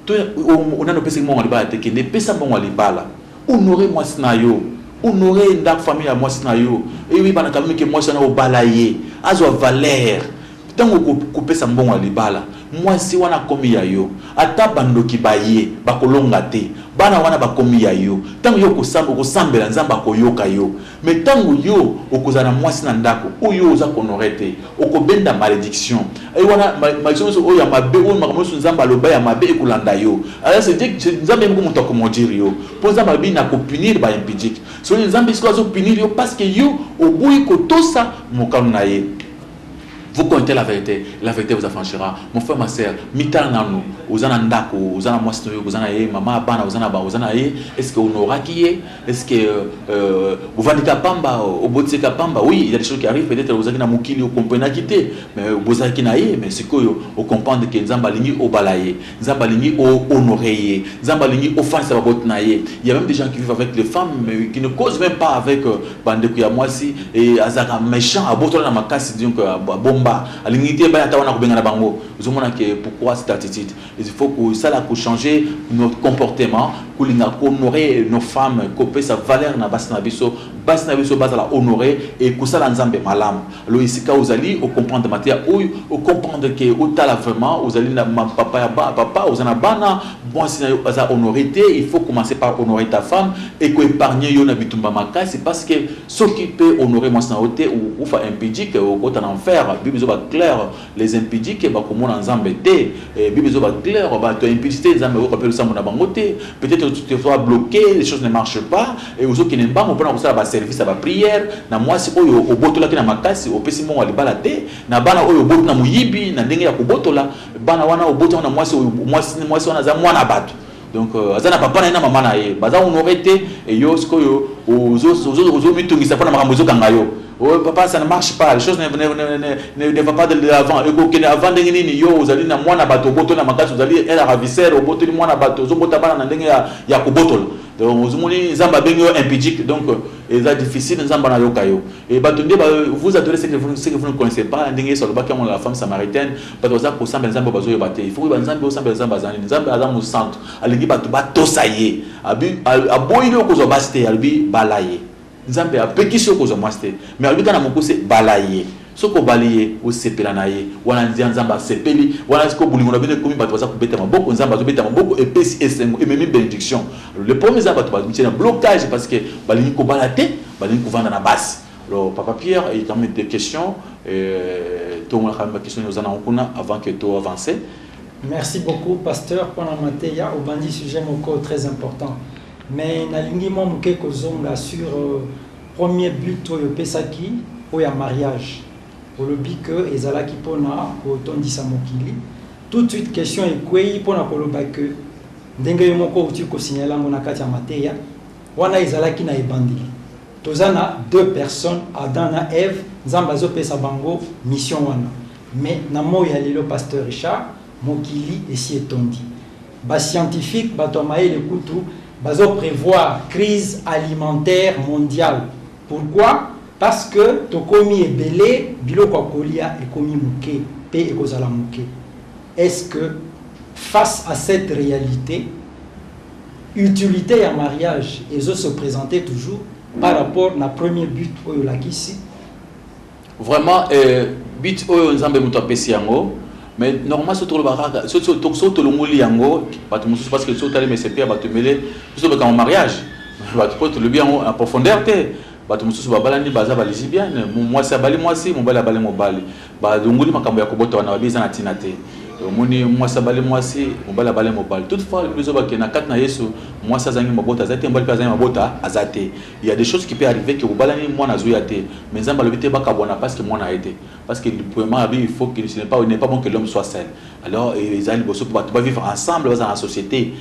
To o nanu opesaki mbongo ya libala te, kende pesa mbongo ya libala. Honore mwasi na yo. Honore ndaku famille ya mwasi na yo. Eyebana quand meme que mwasi wana obala ye, azwa valeur. Tango okoki kopesa mbongo ya libala, mwasi wana akomi ya yo. Ata bandoki baye, bakolonga te. Bana wana bakomi ya yo. Tango yo okosamba, okosambela, Nzambe akoyoka yo. Mais tango yo okozala na mwasi na ndako oyo yo oza ko honorer te, okobenda malediction. Et wana malediction nionso oyo ya mabe, oyo makambo nionso Nzambe aloba ya mabe ekolanda yo. Alors c'est Dieu, c'est Nzambe ye moko mutu ako maudire yo. Po Nzambe alobi nako punir ba impudiques. Sikoyo Nzambe sikoyo azo punir yo parce que yo oboyi kotosa mokano na ye. Vous contez la verite, la verite vous affranchira. Mon frère, ma sœur, mitala nanu, oza na ndako, oza na mwasi noyo, oza na ye, mama, bana, oza na ba, oza na ye, est-ce que honoraki ye? Est-ce que euh, bovandi ka pamba, obotisi ka pamba? Oui, il y a des choses qui arrivent, peut-être ozaki na mokili, okomprenaki te, mais bozaki na ye, mais sikoyo, okomprendre que Nzambe alingi obala ye. Nzambe alingi o honore ye. Nzambe alingi ofandisa baboti na ye. Il y a même des gens qui vivent avec les femmes mais qui ne causent même pas avec euh, bandeko ya mwasi et azalaka méchant abotola na makasi donc euh, bomba alingi te baya ata wana kobengana bango ozomona ke pourquoi cette attitude il faut kosala kochanger notre comportement kolinga kohonore nos femmes kopesa valeur na basi na biso basi na biso bazala honore et kosala nzambe malamu Alors esika ozali o comprendre mateya oyo o comprendre ke otala vraiment ozali na ma- papa ya ba- papa oza na bana mwasi na yo aza honore te il faut commencer par honore ta femme eko épargne yo na bitumba makasi parce que soki pe honore mwasi na yo te okufa impudique okota na enfer bible ezoba claire Les impudiques ba ko mona nzambe te eh, bible ezo ba claire ba to impudicite nzambe ako kapela losambo na bango te peut etre tu te vois bloquer les choses ne marche pas et ozo kende mbango pona kosala ba service ya ba prière na mwasi oyo obotolaki na makasi opesi mbongo ya libala te na bana oyo oboti na moyibi na ndenge ya kobotola bana wana oboti yango na mwasi oyo mwasi mwasi wana aza mwana bato donc euh, aza na papa na ye na mama na ye baza honore te eyo sikoyo ozomitungisa mpo na makambo ezokanga yo oh, papa ça ne marche pas les choses ne, ne, ne, ne, ne, ne va pas de l'avant ekokende avant ndenge nini yo ozali na mwana bato obotoli na makasi ozali un ravisseur obotoli mwana bato ozobota bana na ndenge ya, ya kobotola donc ozomoni nzambe abengi yo impidique donc euh, eza difficile nzambe anayoka yo e bato nde vous adore ce que vous ne connaissez pas ndenge yesu alobaki yango na la femme samaritaine Bato baza kosambela nzambe oyo bazoyeba te il faut koyeba nzambe osambela nzambe aza nini nzambe aza mosantu alingi bato batosa ye abi aboyi yo kozwa basi te alobi bala ye nzambe apekisi yo kozwa mwasi te mais alobi kaka na mokuse bala ye soki obali ye osepela na ye wana nzia nzambe asepeli wana siko bolingo na bino ekomi bato baza kobeta maboko nzambe azobeta maboko epesi esengo ememi benediction le problème eza bato bamitie na blocage parce que balingi kobala te balingi kovanda na basi Alors papa Pierre il y a quand même des questions euh, tongolaka quand même ba questions oza nango kuna avant que to avancer Merci beaucoup, pasteur, pour la mateya. Au bandit sujet moko très important. Mais nalingi mwa moke kozonga sur euh, premier but oyo opesaki oyo ya mariage olobi que ezalaki mpona kotondisa mokili tout de suite question ekwei mpona koloba que ndenge yo moko outi kosignale yango na kati ya mateya Wana ezalaki na ebandeli. Toza na deux personnes Adam na Eve Nzambe azo pesa bango mission wana mais na moyi ya lelo Pasteur Richard mokili esi etondi ba scientifiques batu ya mayele kutu bazo prevoir crise alimentaire mondiale pourquoi parce que tokomi ebele biloko ya kolia ekomi muke pe ekozala muke. Est ce que face à cette realite utilite ya mariage ezo se presenter toujours par rapport na premier but oyo olakisi? Vraiment euh, but oyo Nzambe moto apesi yango mais normalement soki tolobaka kaka soki tolongoli yango bato mosusu parce que soki otali mesepe ya bato ebele biso tolobaka mariage bato mpo tolobi yango en profondeur te bato mosusu babalani baza balisibiane mwasi abali mwasi mobali abali mobali Balongoli makambo ya kobota wana babi eza na tina te. Omoni mwasi abali mwasi, mobali abali mobali. Toute fois alobi zoba ke na kati na Yesu mwasi azangi mabota aza te, mobali pe azangi mabota aza te. Il ya des choses qui peut arriver ke bobalani mwana azoya te mais Nzambe alobi te bakabwana parce que mwana aye te. Parce que premièrement abi il faut que ce n'est pas il n'est pas bon que l'homme soit seul. Alors eza liboso po batu ba vivre ensemble bazala na societe.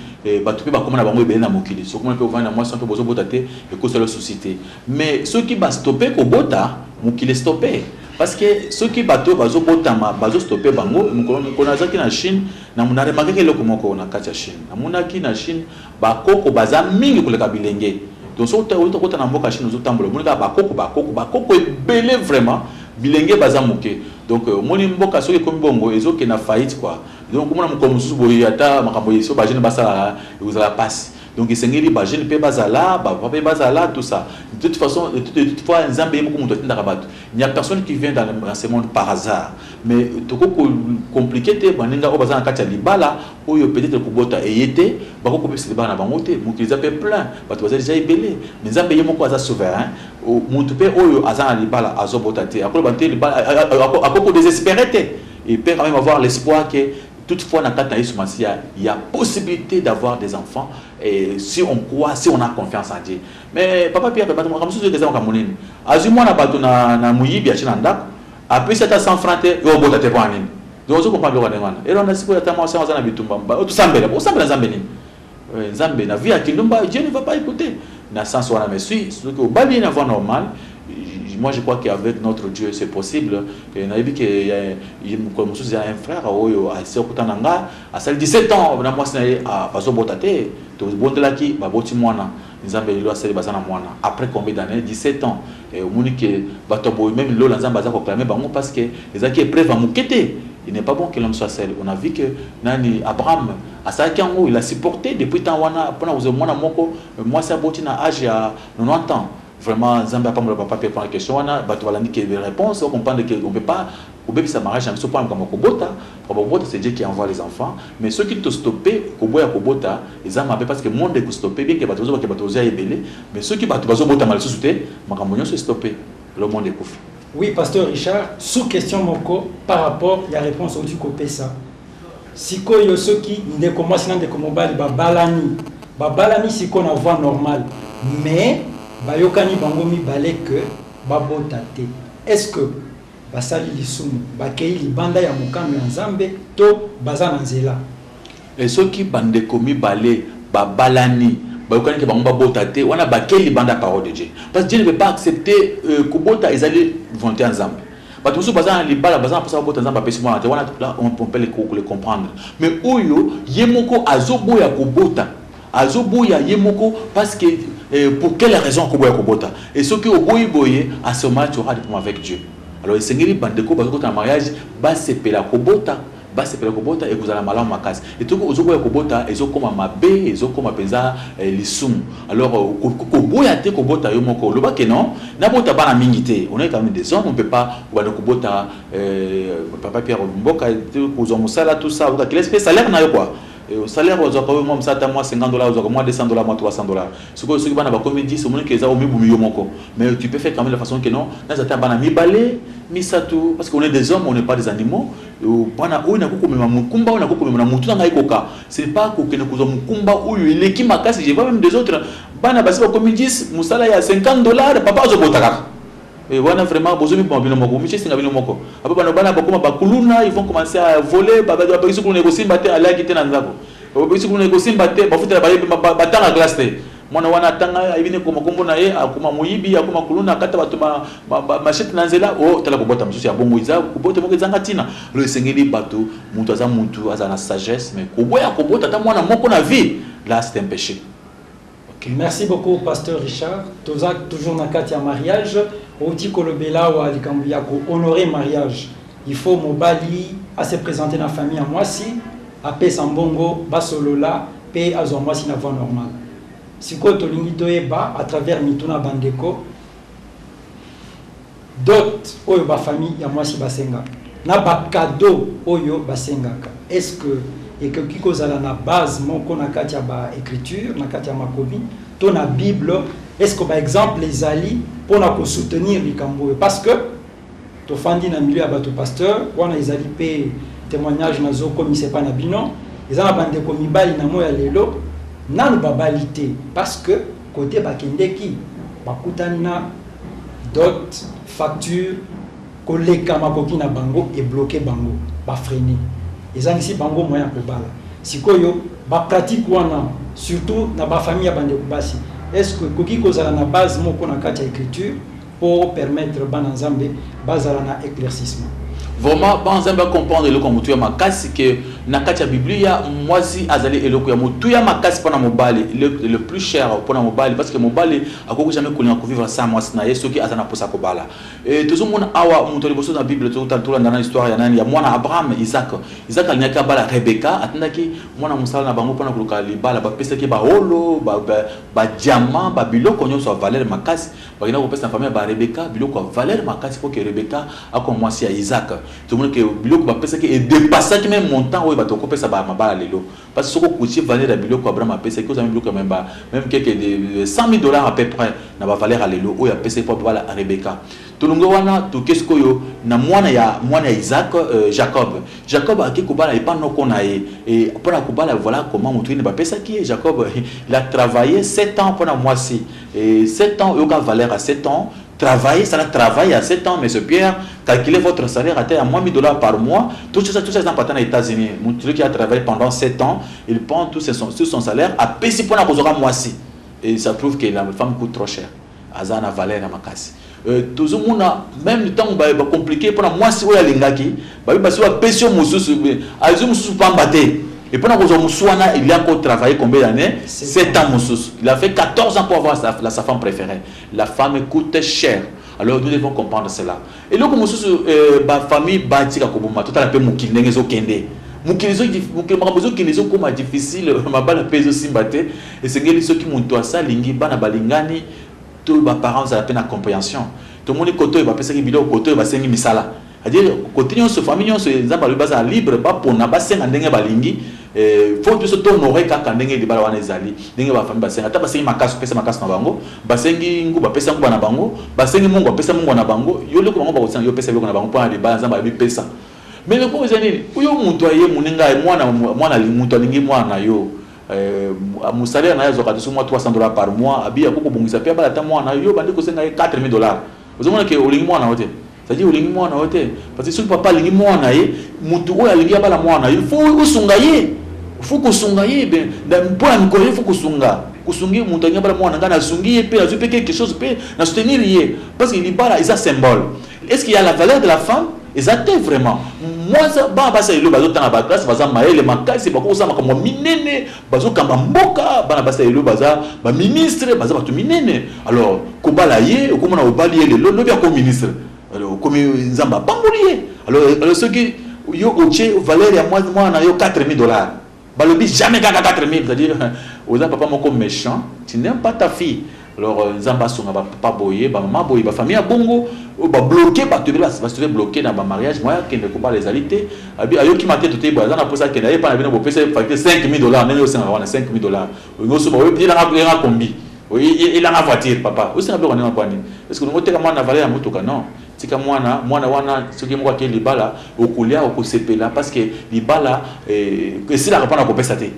Batu pe bakoma na bango ebele na mokili. Soki omoni pe ovandi na mwasi wana pe bozobota te ekosala yo souci te. Mais soki ba stopper kobota mokili estopper. Parce que soki bato oyo bazo botama bazo stopper bango, mokolo moko nazalaki na Chine, na na remarquaki eloko moko na kati ya Chine, namonaki na Chine ba koko baza mingi koleka bilenge, donc soki owuti kokota na mboka Chine ozo tambola omoni kaka ba koko, ba koko, ba koko ebele vraiment, bilenge baza moke, donc omoni mboka soki ekomi bongo ezo kende na faillite quoi, donc okomona mokolo mosusu boye ata makambo oyo ba jeunes basalaka ekozala pasi. Donc esengeli ba jeunes pe bazala, ba papa pe bazala, tout ça. De toute façon, de toute, de toute fois, Nzambe ye moko mutu atindaka batu. Il n'y a personne qui vient dans, le, dans ce monde par hasard. Mais toko ko compliquer te baninga oyo baza na kati ya libala oyo peut-être kobota eye te, bako kopesa libala na bango te. Mokili eza pe plein, batu baza deja ebele. Mais Nzambe ye moko aza souverain. Mutu pe oyo aza na libala azo bota te, akoloba te libala akoko desespere te. Il peut quand même avoir l'espoir que Toutefois, na kati na Yesu Masiya, il ya possibilite d'avoir des enfants et si on croit, si on a confiance en Dieu. Mais papa Pierre, bato makambo mosusu eza makambo nini? Azwi mwana bato na, na moyibi atie na ndako, apesi ata 100 francs te, yo obota te mpo na nini? Donc ozo comprendre biloko ndenge wana. Et Rwanda sikoyo ata mwasi yango aza na bitumba, ba, tosambela, bosambela Nzambe nini? Eh, nzambe na vie ya kindumba dieu ne va pas écouter na sens wana mais si soki obali ye na voie normal moi je crois qu'avec notre dieu c'est possible nayebi ke mokolo mosusu ya un frère oyo asi okuta na nga asali 17 ans na mwasi na ye ah, bazobota te tobondelaki baboti mwana Nzambe lelo asali baza na mwana après combien d'annees 17 ans eh, omoni ke bato ya boye meme lola Nzambe aza ko clamer bango parce que ezalaki epreuve ya moke te il n'est pas bon que l'homme soit seul on a vu que nani Abraham asalaki yango il a supporté depuis temps wana mpona kozwa mwana moko euh, mwasi aboti na age ya 90 ans vraiment Nzambe apambola papa mpe mpona question wana bato balandi ke réponse ocomprendre ke on peut pas Kobebisa mariage na biso pona makambo ya kobota, makambo ya kobota c'est Dieu qui envoie les enfants mais soki to stopper koboya kobota eza mabe parce que monde eko stopper bien que batu bazo bakela batu bazo ya ebele mais soki batu bazo botama lisusu te makambo nionso e stopper alors monde ekufi. Oui pasteur Richard, sous question moko par rapport ya reponse owuti kopesa. Sikoyo soki ndeko mwasi na ndeko mobali babalani, babalani sikoyo na voie normale mais bayokani bango mibale que babota te est-ce que Basali lisumu bakei libanda ya mokano ya Nzambe to baza na nzela? E Soki bandeko mibale babalani, bayokani ke bango babota te, wana bakei libanda ya parole de Dieu. Parce que Dieu ne veut pas accepter euh, kobota ezali volonte ya Nzambe. Bato mosusu baza na libala, baza na posa babota, Nzambe apesi mwana te, wana là on peut le comprendre. Mais oyo ye moko azoboya kobota, Azo boya ye moko parce que eh, pour quelle raison ako boya kobota et soki oboyi boye à ce moment tu auras des problèmes avec Dieu. Alors esengeli bandeko bazo kota na mariage basepela kobota basepela kobota ekozala malamu makasi etoki ozoboya kobota ezokoma mabe ezokoma mpenza eh, lisumu alors euh, koboya te kobota yo moko oloba ke non nabota bana mingi te on est quand même des hommes on peut pas obanda kobota euh, papa pierre mboka kozwa mosala tout ça oka kilesi mpe salaire na yo quoi Eyo salaire ozwaka oyo mwa mosala ata mwa 50 dollars ozwaka mwa 200 dollars mwa 300 dollars sikoyo soki bana bakomi 10 omoni ke eza omibumi yo moko mais tu peux faire quand même la façon que non naza ata bana mibale misato parce qu'on est des hommes on n'est pas des animaux bana oyo nakoki komema mokumba oyo nakoki komema na motu na ngai koka ce n'est pas kokende kozwa mokumba oyo eleki makasi je vois même des autres bana basi bakomi 10 mosala ya 50 dollars papa azobota kaka Eh wana vraiment bozo biboma bino moko miche singa bino moko apo bana bana bakoma bakuluna ils vont commencer à voler ba ba bisi kuluna ekosimba te alaki te na nzako ba bisi kuluna ekosimba te bafutela bayebi batanga classe te mwana wana atanga ayebi ne koma kombo na ye akoma moyibi akoma kuluna akata bato machete na nzela o oh, tala kobota mosusu ya bongo eza kobota moko ezanga ntina lo esengeli bato moto aza motu aza na sagesse mais koboya kobota ata mwana moko na vie la c'est un péché Okay, merci beaucoup pasteur Richard. Toza toujours na kati ya mariage, outi kolobela wa likambo ya ko honorer mariage. Il faut mobali a se présenter na famille ya mwasi, apesa mbongo, basolola pe azwa mwasi na voie normale. Sikoyo tolingi toyeba à travers mituna bandeko Dot oyo ba famille ya mwasi basengaka na ba cadeaux oyo basengaka est ce que ekoki kozala na base moko na kati ya ba ecritures, na kati ya makomi to na bible? Est ce que ba exemples ezali mpo na ko soutenir likambo oyo? Parce que tofandi na milieu ya bato pasteur, wana ezali mpe témoignage nazokomisa epai na bino, eza na bandeko mibali na moi ya lelo nanu babali te parce que Cote bakendeki bakutani na dot, facture, koleka makoki na bango e bloquer bango, ba freiner. Ezangisi bango moyen ya kobala. Sikoyo ba pratiques wana surtout na ba familles ya bandeko basi est ce que ekoki kozala na base moko na kati ya ecriture? po o permettre bana nzambe bazala na eclaircissement. Vraiment bana nzambe ba comprendre eloko ya motuya makasi que na kati ya biblia mwasi azali eloko ya motuya makasi pona mobali le, le plus cher pona mobali parce que mobali akoki jamais kolinga kovivre sans mwasi na ye soki aza na posa kobala e, tozomona awa moto ya liboso na bible tolanda na histoire ya nani ya mwana abraham isaac isaac alingaki abala rebeka atindaki mwana mosala na bango pona koluka libala bapesaki baholo badiama ba, ba, ba, ba biloko nyonso ya valeur makasi bakenda kopesa na famille ya ba Rebeka biloko ya valeur makasi mpo ke Rebeka akoma mwasi ya Isaac. Tomoni ke biloko bapesaki edepassaki meme montant oyo bato bakopesa ba mabala lelo. Parce soki okotie valeur ya biloko Abraham apesaki ozwa meme biloko ya meme ba meme quelque de 100.000 dollars à peu près na ba valeur ya lelo oyo apesaki mpo abala Rebeka. Tolongwe wana toke sikoyo na mwana ya mwana ya Isaac euh, Jacob. Jacob ake kobala epa noko na ye et mpo na kobala voilà comment moto ine bapesaki ye Jacob il a travaille 7 ans mpo na mwasi Et sept ans oyoka valeur ya sept ans travailler sala travail ya sept ans monsieur Pierre calculer votre salaire ata ya moins 1000 dollars par mois tout ça tout ça eza mpata na Etats-Unis mutu soki a travailler pendant sept ans il prend tout son, tout son salaire apesi mpona kozwaka mwasi et ça prouve que la femme coûte trop cher aza na valeur ya makasi Tozo mona meme tango ba complique pona muasi oyo alingaki babi basi ba pesi yo mususu azui mususu pamba te et pona kozua mususu wana il ya ko travailler combien d'annees 7 ans mususu il a fait 14 ans pour avoir sa, la, sa femme preferee la femme coute cher alors nous devons comprendre cela eloko mususu euh, ba famille ba tika koboma totala pe mokili ndenge ezokende mokili makambo ezokende ezokoma difficile mabala mpe ezosimba te esengeli soki moto asalingi bana balingani To ba parents zala pe na comprehension tomoni kote oyo ba pesaki biloko kote oyo ba sengi misala a dire kote nionso famille nionso nzambe alobi bazala libre ba pona ba senga ndenge ba lingi faut biso to honore kaka ndenge libala wana ezali ndenge ba famille ba senga ata ba sengi makasu pesa makasu na bango ba sengi nguba pesa nguba na bango ba sengi mungwa pesa mungwa na bango yo eloko bango ba kosenga yo pesa eloko na bango pona libala nzambe alobi pesa mais eloko oyo eza nini yo mutu aye muninga muana mutu alingi muana na yo Eh, musalaire na ye azwaka lisu mwa 300 dollars par mois abi ako kobongisa mpe abala ata mwana yo bandi kosenga ye 4000 dollars ozomona ke olingi mwana yo te cetadire olingi mwana yo te parce que soki papa alingi mwana ye motu oyo alingi abala mwana ye fo osunga ye fo kosunga ye mpo na mikolo ye fo kosunga kosungi moto alingi abala mwana ngai nasungi ye mpe nazwi mpe quelque chose mpe na soutenir ye parce que libala eza symbole Est ce qu'il ya la valeur de la femme? Eza te vraiment. Mwasa bana basi ya lelo bazo tanga ba classe baza mayele makasi bakoki kosala makambo ya minene bazo kamba mboka bana basi ya lelo baza ba ministre baza bato minene alors kobala ye okomona obali ye lelo lobi akomi ministre alors okomi nzambe apamboli ye alors alors soki yo otie valeur ya mwana na yo 4000 dollars Balobi jamais kaka 4000 c'est à dire oza papa moko mechant tu n'aimes pas ta fille alors euh, nzambe asunga ba papa boye ba mama boye ba famille ya bongo oyo ba bloquer bato ebele basi toye bloquer na ba mariage moya akende kobala ezali te abi ayoki mate toteyi boye aza na posa akende ayepa na bino bopesa ye facture 5000 dollars ndenge osengaka wana 5000 dollars olingi osoba oyo elanga elanga kombi elanga voiture papa osenga biloko ndenge kwani est ce que olingi oteka mwana na valeur ya motuka non Tika mwana mwana wana soki moko ake libala okolia okosepela parce que libala eh, esilaka mpona kopesa te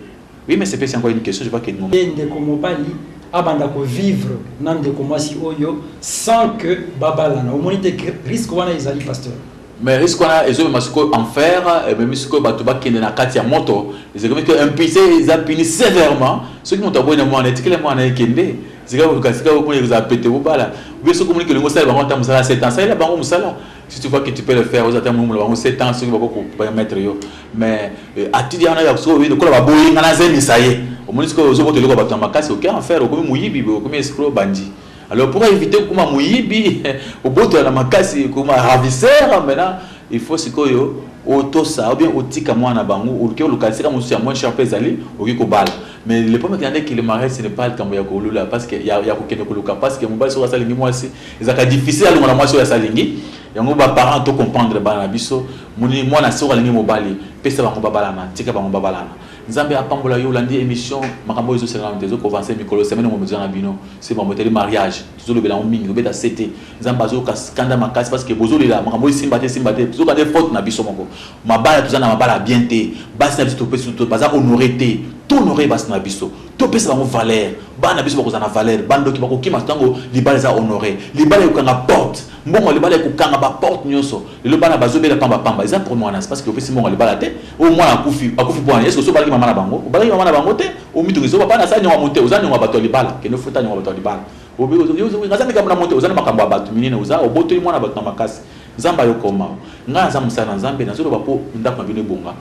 oui mais sepesi encore une question je vois que non ndeko mobali abanda ko vivre na ndeko mwasi oyo sans que babalana omoni te risque wana ezali pasteur mais risque wana ezomema sikoyo enfer ememi sikoyo bato bakende na kati ya moto ezekomi te impulse eza puni sévèrement soki moto aboyi na mwana etikele mwana ekende Zela koluka esika oyo pona ekozala pete obala ou bien soki omoni que olingi osala bango ata musala ya 7 ans salela bango musala si tu vois que tu peux le faire ozala ata molumbu na bango 7 ans soki bakoki ko permettre yo mais euh, attitude wana ya sikoyo oyebi lokola baboyi nga nazemisa ye omoni sikoyo ozokota eloko ya bato na makasi oke en faire okomi moyibi boye okomi escro bandi alors pour éviter kokoma moyibi obotola na makasi okoma ravisseur maintenant il faut sikoyo otosa ou bien otika mwana na bango oke oluka esika mosusu ya moins cher mpe ezali okoki kobala Mais le problème avec le mariage ce n'est pas likambo ya kolula parce que ya, ya kokende koluka parce que mobali soki asalingi mwasi ezalaka difficile alongola mwasi oyo asalingi yango ba parents to comprendre bana na biso moni mwana soki alingi mobali pesa bango babalana tika bango babalana nzambe apambola yo olandi émission makambo oyo ezosenga nano te ezokovance mikolo semaine ngo mozana bino se bamoteli mariage Tozo lobela yango mingi obeta CT nzambe azo yoka kanda makasi parce que bozo lela makambo esimba te esimba te zoka nde faute na biso moko mabala toza na mabala bien te basi na biso topesi to baza honore te to honore basi na biso topesa bango valeur bana na biso bakozala na valeur bandoki bakokima tango libala eza honore libala ekokanga porte Mbongo ya libala ekokanga ba porte nionso. Lelo bana bazo bela pamba pamba. Eza problème wana c'est parce que opesi mbongo ya libala te. Oyo mwana akufi, akufi pona nini? Est ce que osi obalaki mama na bango? Obalaki mama na bango te. Omi tungisa yo papa nasala niongo ya moto te. Oza niongo ya batu ya libala. Kende ofuta niongo ya batu ya libala. Obi ozo yo ozo nasala likambo na moto te. Oza na makambo ya batu minene oza. Obotoli mwana ya batu na makasi. Nzambe ayoka yo mawa. Ngai naza mosali na Nzambe nazo loba po ndaku na bino ebonga.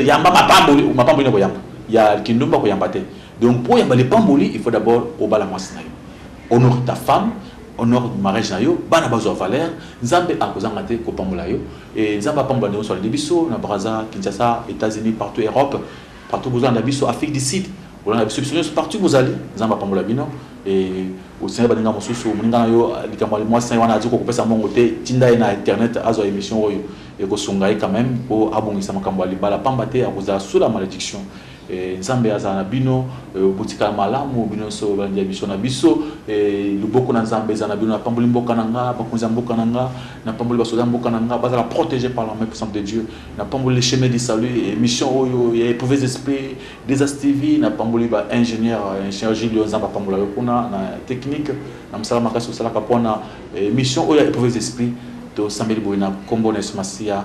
Yamba mapamboli. Mapamboli nini okoyamba? Ya kindumba okoyamba te. Donc po oyamba lipamboli il faut d'abord obala mwasi na yo. Honore ta femme. honore marriage na yo bana bazwa valeur nzambe akozanga te kopambola yo e nzambe apambola ndeko solide biso na braza kinshasa etats-unis partout europe partout bozolanda biso afrique du sud bolanda biso biso nyonso partout bozali nzambe apambola bino e osenga baninga mosusu moninga na yo likambo ya mwasi na ye wana azwi kokopesa mongo te tinda ye na internet azwa émission oyo ekosunga ye quand même mpo abongisa makambo ya libala pamba te akozala sous la malédiction Eh, Nzambe azala na bino, eh, botikala malamu bino nyonso balandi ya biso na biso. Eh, loboko na Nzambe ezala na bino. Napamboli mboka na nga, bakonzi ya mboka na nga, napamboli basoda ya mboka na nga, bazala protege par la main puissante de Dieu. Napamboli le chemin du salut, émission oyo ya éprouves esprits, Desas TV, napamboli ba ingénieur, ingénieur Julio Nzambe apambola yo kuna na technique, na mosala makasi osalaka mpo na émission oyo ya éprouves esprits. Tosambeli boye na kombo na Yesu Masiya.